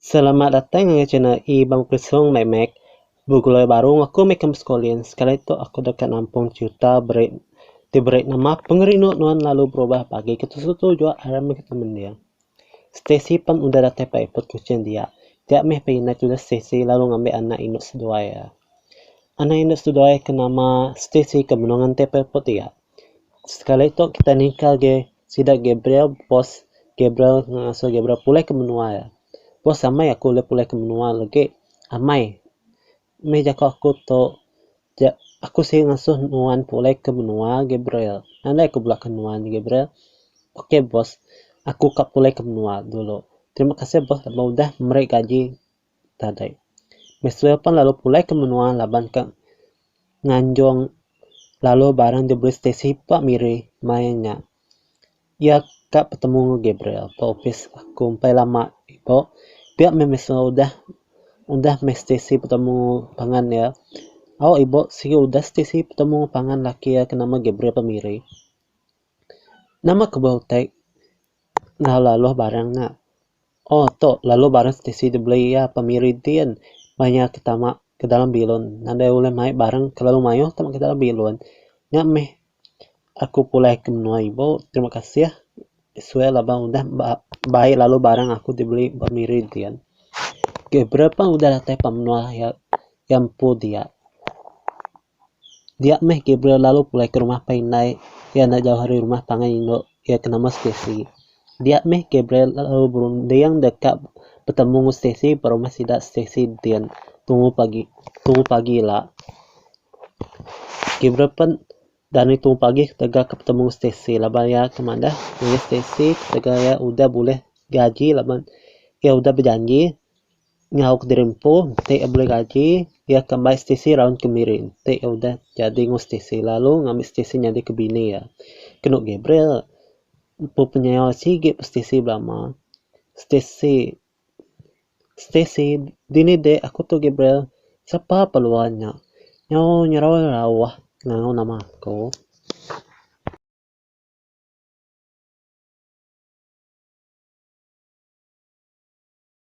Selamat datang ngagai channel Ibang Prisong Meh Meh. Begulai baru enggau aku meh ke Muscolin. Sekali tu aku deka nampung cerita beri ti beri nama Pengerindu Nuan Lalu Berubah Pagi ke tetuju jua arai meh kita mendir. Stacy pan udah datai pa epod Kuching dia. Dia meh pa inai tudah Stacy lalu ngambi anak indu seduai iya. Anak indu seduai ke nama Stacy ke benung nganti pa epod dia. Sekali tu kitai ningka agi sida Gabriel bos Gabriel ngasuh Gabriel pulih ke menua iya. Bos amai aku ulih pulih ke menua lagi amai. Meh jaku aku tu ja aku sida ngasuh nuan pulih ke menua Gabriel. Nadai ku bela ke nuan Gabriel. Ok bos aku ka pulih ke menua dulu. Terima kasih bos laban udah meri gaji tadai. Mesra pan lalu pulai ke menua laban ka nganjung lalu barang diberi stesi pa miri maya nya. Iya ka petemu enggau Gabriel pa opis aku empai lama ibuh. Pia meh mesra udah udah meh stesi petemu pangan iya. Au ibuh sigi udah stesi petemu pangan laki iya ke nama Gabriel pa miri. Nama ke bau tag enggau laluh barang nya. Oh tu laluh barang stesi dibeli iya pa Miri ti kan meh iya ke tama ke dalam bilun. Nadai ulih mai barang kelalu mayuh tama ke dalam bilun. Nya meh aku pulai ke menua ibu. Terima kasih Iswell aba udah bai laluh barang aku dibeli ba Miri ti kan. Gabriel pun udah datai pa menua iya empu dia. Dia meh Gabriel lalu pulai ke rumah pai indai iya enda jauh ari rumah pangan indu iya ke nama Stacey. Dia meh Gabriel lalu berunding deka betemu enggau Stacey ba rumah sida Stacey din tunggu pagi tunggu pagi ila. Gabriel pen dani tunggu pagi ketegal ke betemu enggau Stacey laban iya ke madah Stacey ketegal iya udah bulih gaji laban iya udah bejanji Nyau kediri empu enti iya beli gaji iya akan mai stc raun kemiri enti iya udah jadi enggau stc lalu ngambi stc nyadi ke bini iya. Kenu Gabriel empu penyau sigi pun stc belama. Stc, stc dini dek aku tu Gabriel sapa peluan nya. Nyau nyerau rauh ngau nama aku.